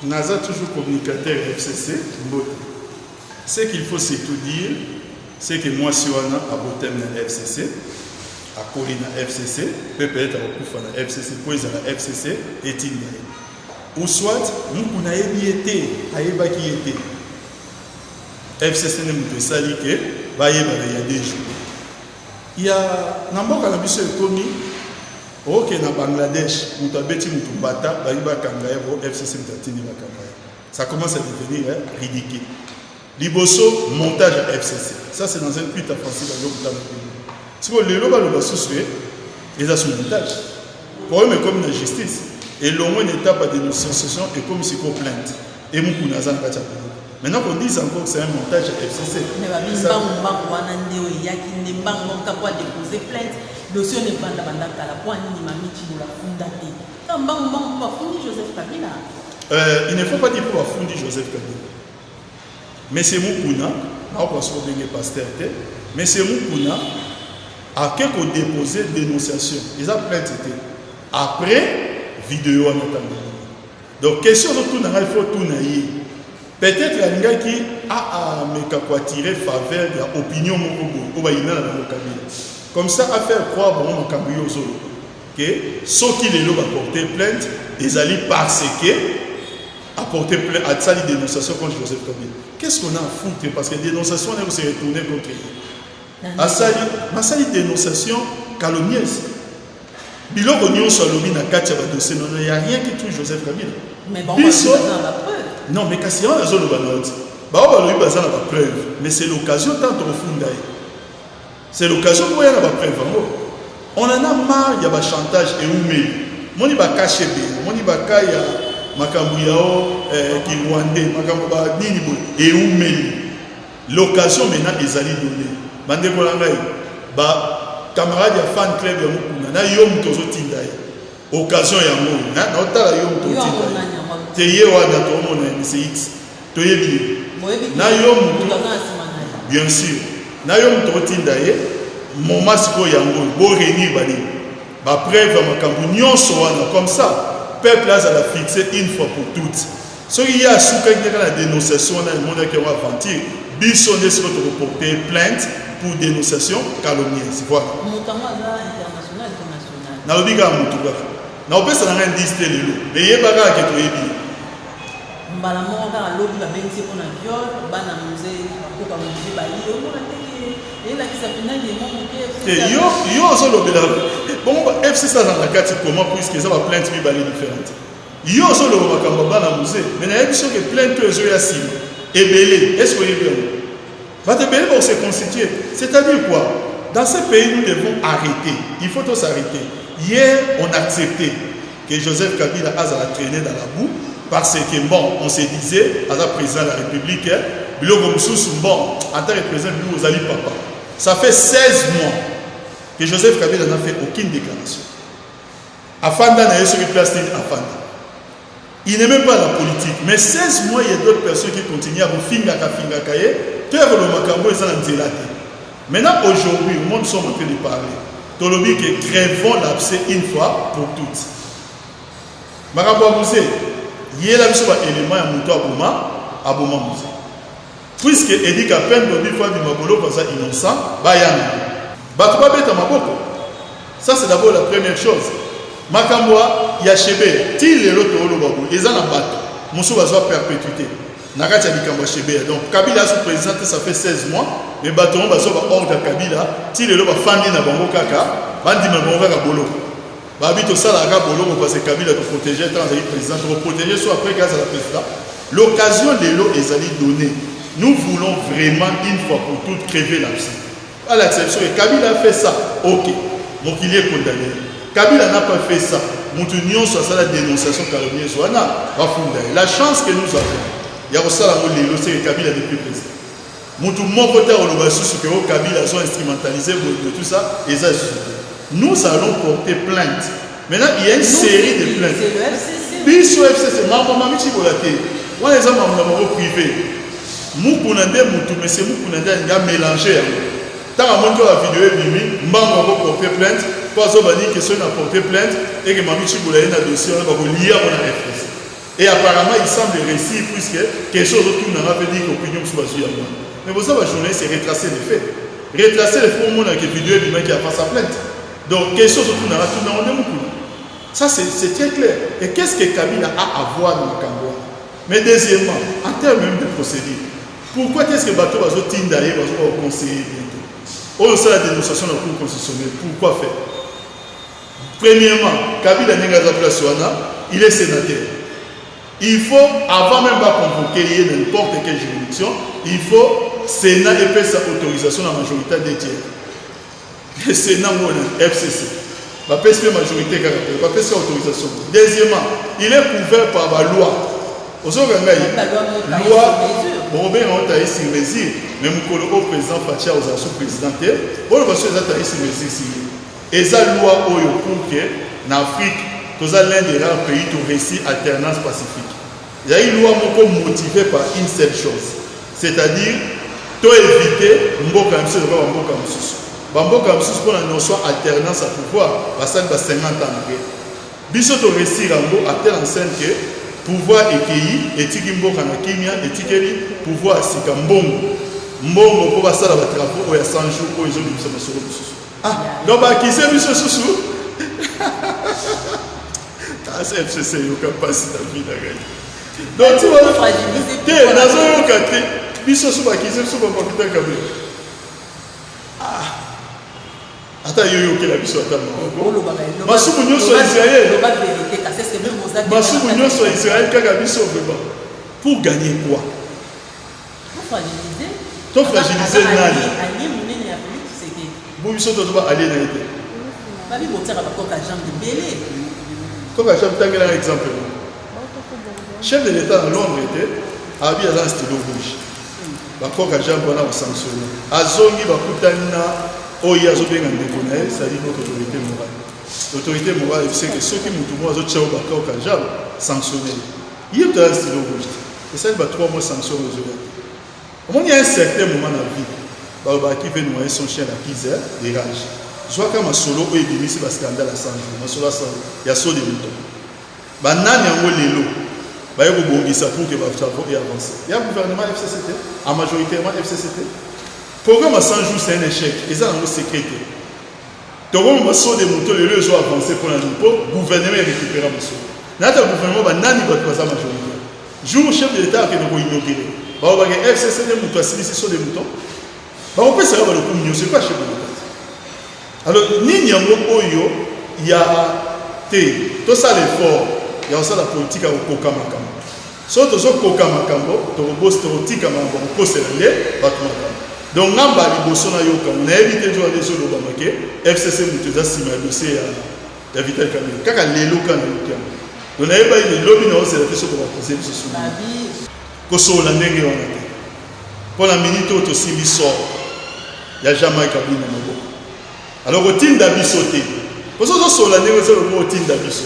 Naza toujours communicateur ya FCC mbote. Ce qu'il faut surtout dire, c'est que mwasi wana abotami na FCC, akoli na FCC, mpe peut-être akokufa na FCC mpo ezala FCC etinda ye. Ou soit muku nayebi ye te, ayebaki ye te. FCC nde moto esali ke bayebana ya deux jours. Ya na mboka na biso ekomi oke na Bangladesh mutu abeti mutu mbata balingi bakanga ye po FCC mutu atindi bakanga ye ça commence à devenir ridicule liboso montage ya FCC ça c'est dans un tweet à Francis Bazo Mutamba siko lelo baloba susu ye eza sous montage problème ekomi na justice elongwe na étape ya dénonciation ekomi siko plainte Et Mukuna aza na kati ya groupe. Maintenant qu'on dise encore que c'est un montage ya FCC. Mais ba bimbangu mbangu wana nde oyo eyaki nde mbangu mbangu kaka po a deposer plainte dossier wana evanda banda kala po anini mami Tshibola afunda te kaka mbangu mbangu po bafundi Joseph Kabila. Euh, il ne faut pas dire po bafundi Joseph Kabila. Monsieur Mukuna akoka soko ndenge pasteur te. Monsieur Mukuna ake ko deposer dénonciation eza plainte te. Après vidéo wana tanga. Donc question ozo tuna ngai faut tuna ye. Peut-être alingaki a a meka ko attirer faveur ya opinion moko boye oyo bayinana na Kabila. Comme ça a faire croire bango makambo yo ozo loba. Que soki lelo ba porter plainte ezali parce que a porter plainte a tsali dénonciation contre Joseph Kabila. Qu'est-ce qu'on a à foutre parce que dénonciation ne se retourner contre lui. Asali masali dénonciation calomnieuse. Biloko nionso alobi na kati ya ba dossier nono ya rien qui touche Joseph Kabila. Mais bango biso baza na ba preuve. Non mais kasi yango nazo loba na yo ti. Bao balobi baza na ba preuve mais c'est l'occasion tant tokofunda ye. C'est l'occasion mpo ya na ba preuve yango. On en a marre ya ba chantage eumeli. Moni ba KCB, moni ba ka ya makambo yao eh, ki rwandais, makambo ba nini boye eumeli. L'occasion maintenant ezali donner ba ndeko na ngai ba camarades ya fan club ya Mukuna na yo moto ozo tinda ye occasion ya ngo hein na otala yo moto tinda ye te ye wana to mona ye c'est X to yebi ye na yo moto bien sûr na yo moto otinda ye moment sikoyo yango bo réunir ba nini ba preuve ya makambo nyonso wana comme ça peuple azala fixe une fois pour toutes Soki ye asukaki kaka na denonciation wana emonaki yango aventure, biso nde sikoyo toko porter ye plainte pour denonciation calomnieuse. Voilà. Moto yango aza international to national? Nalobi kaka moto kaka. Nakopesa na ngai indice te lelo, mais yeba kaka ke toyebi ye. Mbala moko kaka lobi babengisi ye mpo na viol, bana mzee bakoko ya mzee baye, omona te ke elakisa mpenza que mwa moke FC Te, aza- yo, yo ozolobela bongo ba FC aza na kati comment puisque eza ba plainte mibale differente. Yo ozo loba makambo ya bana muze mais na yebi soki plainte oyo ezo ya sima ebele est ce que oyebi yango? Bato ebele bako se constituer c'est à dire quoi? Dans ce pays nous devons arreter il faut to s'arreter hier on accepte que Joseph Kabila azala trainer dans la boue parce que bon on se disait aza president de la republique biloko mususu bon en tant que president biloko ozali papa ça fait 16 mois que Joseph Kabila n'a fait aucune déclaration Afanda na ye soki place nini afanda. Il n'est même pas la politique mais 16 mois il y a d'autres personnes qui continuent à kofingaka fingaka ye tero lo makambo eza na nzela te. Maintenant aujourd'hui au monde sommes en train de parler. Tolobi que crevons l'abcès une fois pour toutes. Makambo ya musée yela biso ba éléments ya moto aboma aboma musée. Puisque Eddy kapend lobi fally maboloko aza innocent ba yanga batu ba beta maboko ça c'est d'abord la première chose makambo ya shebeya ti lelo to loba boye eza na batu musu bazwa perpetuite na kati ya likambo ya shebeya donc kabila asu president te ça fait 16 mois mais batu yango bazwa ba ordre ya kabila ti lelo ba fandi na bango kaka ba ndima bango kaka boloko Babi tosalaka kaka boloko parce que Kabila to proteger tant azali president toko proteger so après que azala president l'occasion lelo ezali donner nous voulons vraiment une fois pour toutes crever la psy balakisa biso ke Kabila a fait ça ok mokili e condamner Kabila n'a pas fait ça moto nyonso asala dénonciation calomnieuse wana bafunda ye la chance que nous avons ya kosala yango lelo seke Kabila depuis president Mutu moko te akoloba lisusu que oh Kabila azo instrumentalise boye boye tout ça eza lisusu te. Nous allons porter plainte. Maintenant il ya une serie de plaintes. Biso FCC mambo mami chibola te. Wana eza mambo na bango prive. Mukuna nde mutu monsieur Mukuna nde alinga melanger yango. Tanga moto ya video ebimi mbango ako porter plainte po azoba ni question na porter plainte et que mami chibola ye na dossier wana bako liya wana FCC. Et apparemment il semble reussir puisque question ozo tuna nga pe dit que opinion mususu bazui ya mwana. Mais boza ba journaliste retracer les faits. Retracer les faits omona que video ebimaki avant sa plainte. Donc question ozo tuna nga tuna ngo nde mukuna. Ça c'est très clair. Et qu'est-ce que Kabila a à voir na makambo wana? Mais deuxièmement, en termes même de procédure, pourquoi qu'est-ce que bato bazo tinda ye bazo ba conseiller bientôt? Oyo sala dénonciation na cour constitutionnelle, pourquoi faire? Premièrement, Kabila ndenge aza place wana, il est senateur. Il faut avant même ba convoquer ye n'importe quelle juridiction, il faut Sénat epesa autorisation na majorité à deux tiers. Le Sénat ngona FCC. Ba pesi pe majorité kaka pe, ba pesi autorisation. Deuxièmement, il est couvert par ba loi. Ozoka ngai loi bokobenga ngo taille sur mesure, mais mokolo oyo président Fatshi akozala sous président te, oyo baso eza taille sur mesure si ye Eza loi oyo pour que na Afrique toza l'un des rares pays to reussi alternance pacifique. Ezali loi moko motive par une seule chose c'est-à-dire to eviter mboka na biso eloba ba mboka mosusu. Ba mboka mosusu mpo na notion alternance ya pouvoir basali ba 50 ans mabe. Biso to reussir yango à telle enseigne que pouvoir ekeyi etiki mboka na kimia etikeli pouvoir sika mbongo mbongo mpo basala ba travaux oyo ya 100 jours oyo ezobimisa masolo mosusu. Ah, donc bakize biso susu asa fcc eyoka mpasi na vi na ngai donc te nazoyoka te biso so bakize biso bamapita kabe ah, ata yo yokela biso ata masumu nyonso ya israel masumu nyonso ya israel kaka biso vraimen pour gagner quoi To fragiliser nani? Allié munene ya Felix Tshisekedi. Bo biso to ba allié na yete. Ba bi botsaka ba koka jambe belé. Koka jambe tangela exemple. Chef de l'État à Londres était abi aza stylo rouge. Ba koka jambe wana ba sanctionner. Azongi ba kutani na oyo azobenga ndeko na ye, c'est-à-dire notre autorité morale. L'autorité morale, c'est que ceux qui mutumo azo tchao ba koka jambe sanctionner. Yo to ya stylo rouge te esali ba trois mois sanction ozo ya te omoni un certain moment na vie balobaka qui veut noyer son chien la pise de rage zwaka masolo oyo ebimisi ba scandale ya sanjo masolo ya sanjo ya saut de mouton banani yango lelo baye kobongisa pour que ba travaux et avancer ya gouvernement FCC te en majoritairement FCC te programme ya 100 jours c'est un échec eza nango secret te Togo mama saut de mouton lelo ezo avance pona nini po gouvernement e recupera mosolo nayata ya gouvernement ba nani batu baza majorite jour chef de l'etat akende ko inaugure balobake FCC nde mutu asilisi saut de mouton bakopesa yo balokumu nyoso epa chef de l'etat alors nini yango oyo ya te tosala effort ya kosala politique ya kokoka makambo Soki tozo koka makambo tokoboss toko tika makambo ya kokosela nde batu makambo donc nga mbala liboso na yoka ngo nayebi te nzoka nde ezo lobama ke FCC mutu eza sima ya dossier ya ya Vital Kamerhe kaka lelo ka na yoki yango donc nayebaki ke lobi nao zela te soki ba accuser biso sur nini kosolola ndenge wana te mpo na minute oyo tosimbi sort ya Jean Mike Abdul na maboko alors kotinda biso te mpo soki ozosolola ndenge ozo lobi otinda biso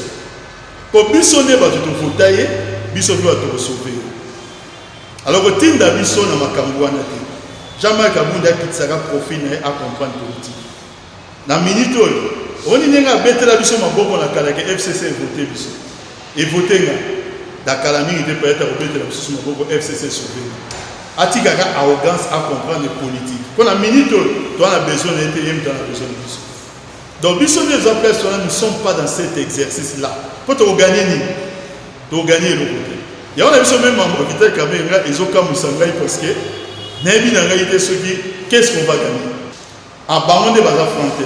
Po biso nde batu to vota ye, biso pe batu toko sauver ye. Alors ko tinda biso na makambu wana te. Jean Marc Kabund akitisaka profil na ye a comprendre politique. Na minute oyo omoni ndenge abetela biso maboko na kala ke FCC e voter biso. E voter nga. Na kala mingi te peut-etre akobetela bisusu maboko FCC e sauver nga. Atika ka arrogance a comprendre politique. Po na minute oyo toza na besoin na ye te, ye mutu aza na besoin na biso. Donc biso nde toza place wana nous sommes pas dans cet exercice là po toko gagner nini toko gagner eloko te yango na biso meme mambo vital kamerhe nga ezokamwisa ngai parce que nayebi na ngai te soki qu'est ce qu'on va gagner a ah, bango nde baza franc te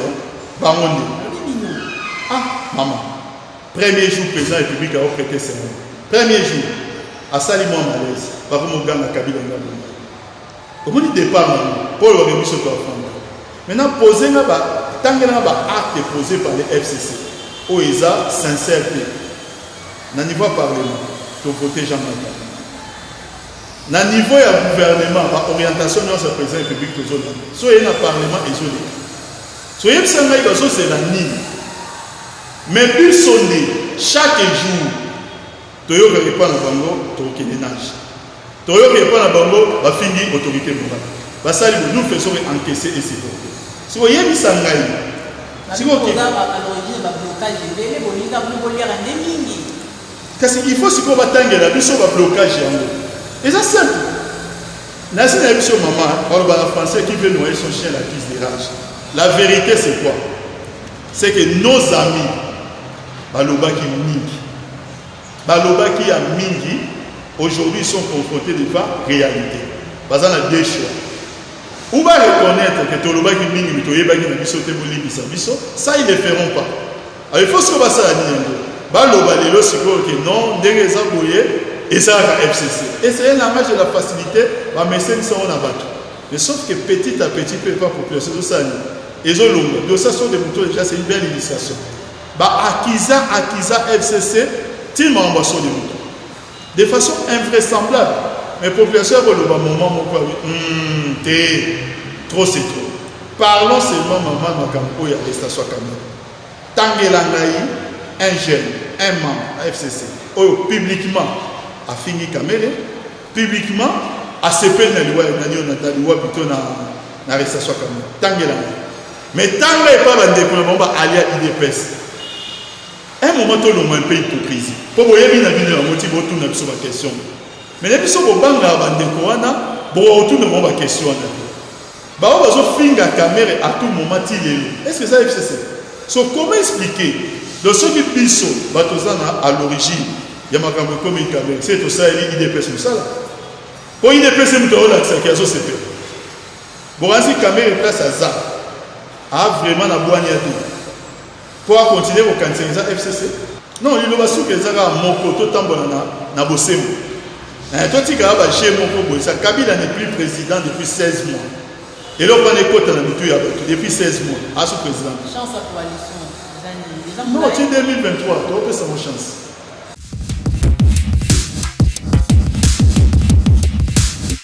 bango nde ah mama premier jour président république ao prêter serment premier jour asali mwa malaise bakoma oganga kabila nga bonga Omoni depart na ngo oyo wage biso to afanda maintenant pose nga ba tangela nga ba acte pose par le FCC oyo eza sincère te na niveau ya parlement to vote Jean Marc Kabund na niveau ya gouvernement ba orientation nionso ya president republique tozo landa so ye na parlement ezo leka so yebisa ngai bazo zela nini mais biso nde chaque jour Toyoka epa na bango tokokende nage toyoka epa na bango bafingi autorite morale basali bo nous faisons que encaisser et supporter siko yebisa ngai siko ki kasi il faut sikoyo batangela biso ba blocage yango eza simple nasi na biso mama baloba na français qui veut noyer son chien la crise de rage la vérité c'est quoi c'est que nos amis Balobaki mingi, balobaki ya mingi. Aujourd'hui, ils sont confrontés devant réalité. Baza na deux choix. Ou va reconnaître que tolobaki mingi mais toyebaki na biso te bolimbisa biso. Ça ils ne feront pas. Alors il faut sikoyo basala nini yango? Baloba lelo sikoyo que non ndenge eza boye esalaka FCC. Et c'est un langage de la facilité bameseni sango na bato. Mais sauf que petit à petit mpe epa population ezosala nini? Ezolonga. Donc ça sont des moutons déjà, c'est une belle illustration. Ba accusa accusa FCC ti mawa ba soli mutu de façon invraisemblable mais population yako loba moment moko ya hum te trop c'est trop parlons seulement maman makambo oyo ya arrestation ya Kamere tangela ngai un jeune un membre ya FCC oyo publiquement afingi Kamere publiquement asepeli na liwa na Jonathan liwa plutôt na na arrestation ya Kamere tangela ngai Mais tanga epa ba ndeko na bango ba alia udps. Un moment to longwa un peu hypocrisie. Po boyebi na bino yango ti bo tuna biso ba question. Mais na biso bo banga ba ndeko wana bo otuna bango ba question wana. Ba ba zo finga kamere à tout moment ti lelo. Est-ce que ça FCC? So comment expliquer? Le soki biso ba tozana à l'origine ya makambo ekomi kamere. C'est to sali udps musala. Po udps mutu olakisa ki azo sepela. Bokanisi Kamere place aza a vraiment na bwania te po a continuer kokanisa eza FCC? Non, liloba suka eza kaka moko, totambola na, na bosembo. Eh, totikaka ba jeu moko boye, sa Kabila n'est plus président depuis 16 mois. eloko wana ekota na mitu ya bato depuis 16 mois asu président non ti 2023 topesa mo chance